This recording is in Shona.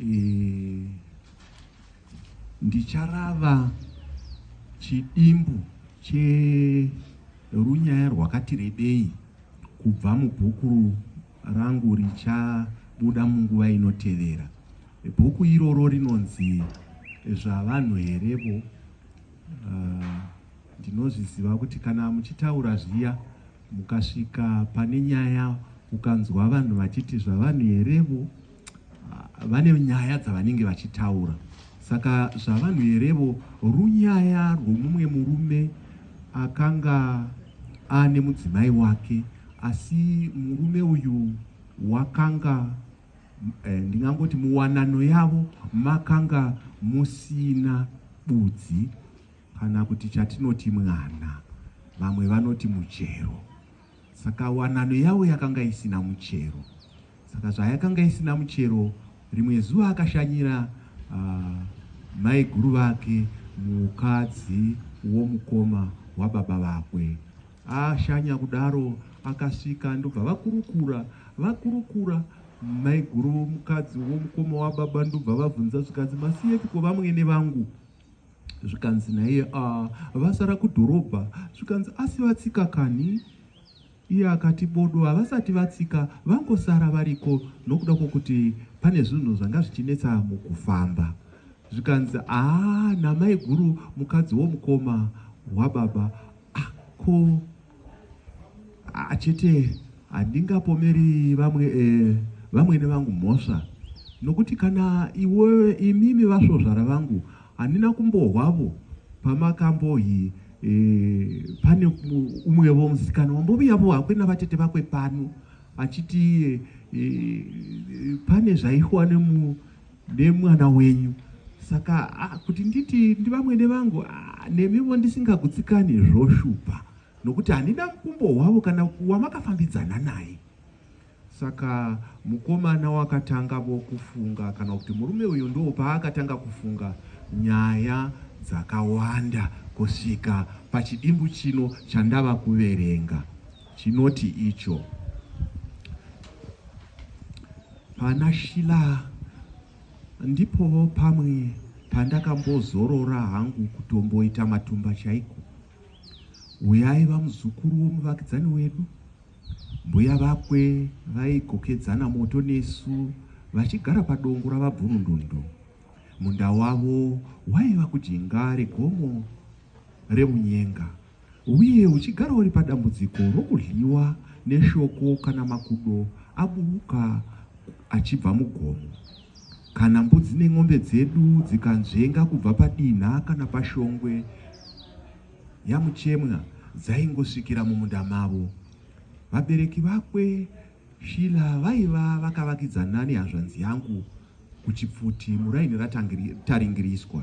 e, ndicharava chidimbu cherunyaya rwakati rebei kubva mubhuku rangu richabuda munguva inotevera bhuku iroro rinonzi zvavanhu herevo uh, ndinozviziva kuti kana muchitaura zviya Mukasvika pane nyaya ukanzwa vanhu vachiti zvavanhu herevo vane nyaya dzavanenge vachitaura saka zvavanhu herevo runyaya rwomumwe murume akanga ane mudzimai wake asi murume uyu wakanga eh, ndingangoti muwanano yavo makanga musina budzi kana kuti chatinoti mwana, vamwe vanoti muchero. Saka wanano yavo yakanga isina muchero. Saka zvayakanga isina muchero, rimwe zuva akashanyira uh, maiguru vake mukadzi womukoma wababa vakwe. Ashanya kudaro akasvika ndobva vakurukura vakurukura maiguru mukadzi womukoma wababa ndobva vabvunza zvikanzi masiyepi ko vamwene vangu zvikanzi naiye ah, vasara kudhorobha zvikanzi asi vatsika kani iye akati bodo havasati vatsika vangosara variko nokuda kwokuti pane zvinhu zvanga zvichinetsa mukufamba zvikanzi aa ah, namaiguru mukadzi womukoma wababa ah, ko achete handingapomeri vamwe eh, vamwene vangu mhosva nokuti kana iwe imimi vasvozvara vangu handina kumbohwavo pamakambohi eh, pane umwevo musikana wamboviyavo hakwe navatete vakwe pano achiti eh, pane zvaihwa nemu nemwana wenyu saka ah, kuti nditi ndivamwene vangu ah, nemivo ndisingagutsikani zvoshupa nokuti handina mukumbo hwavo kana wamakafambidzana naye saka mukomana wakatanga vokufunga kana kuti murume uyu ndo paakatanga kufunga nyaya dzakawanda kusvika pachidimbu chino chandava kuverenga chinoti icho Pana Shila ndipowo pamwe pandakambozorora hangu kutomboita matumba chaiko. Uyai vamuzukuru womuvakidzani wedu, mbuya vakwe vaigokedzana moto nesu vachigara padongo ravabvurundundu. Munda wavo waiva kujinga regomo remunyenga Uye uchigara uri padambudziko rokudliwa neshoko kana makudo aburuka achibva mugomo, kana mbudzi nen'ombe dzedu dzikanzvenga kubva padinha kana pashongwe yaMuchemwa dzaingosvikira mumunda mavo. Vabereki vakwe Shila vaiva vakavakidzana nehazvanzi yangu kuChipfuti muraini raTaringiriswa.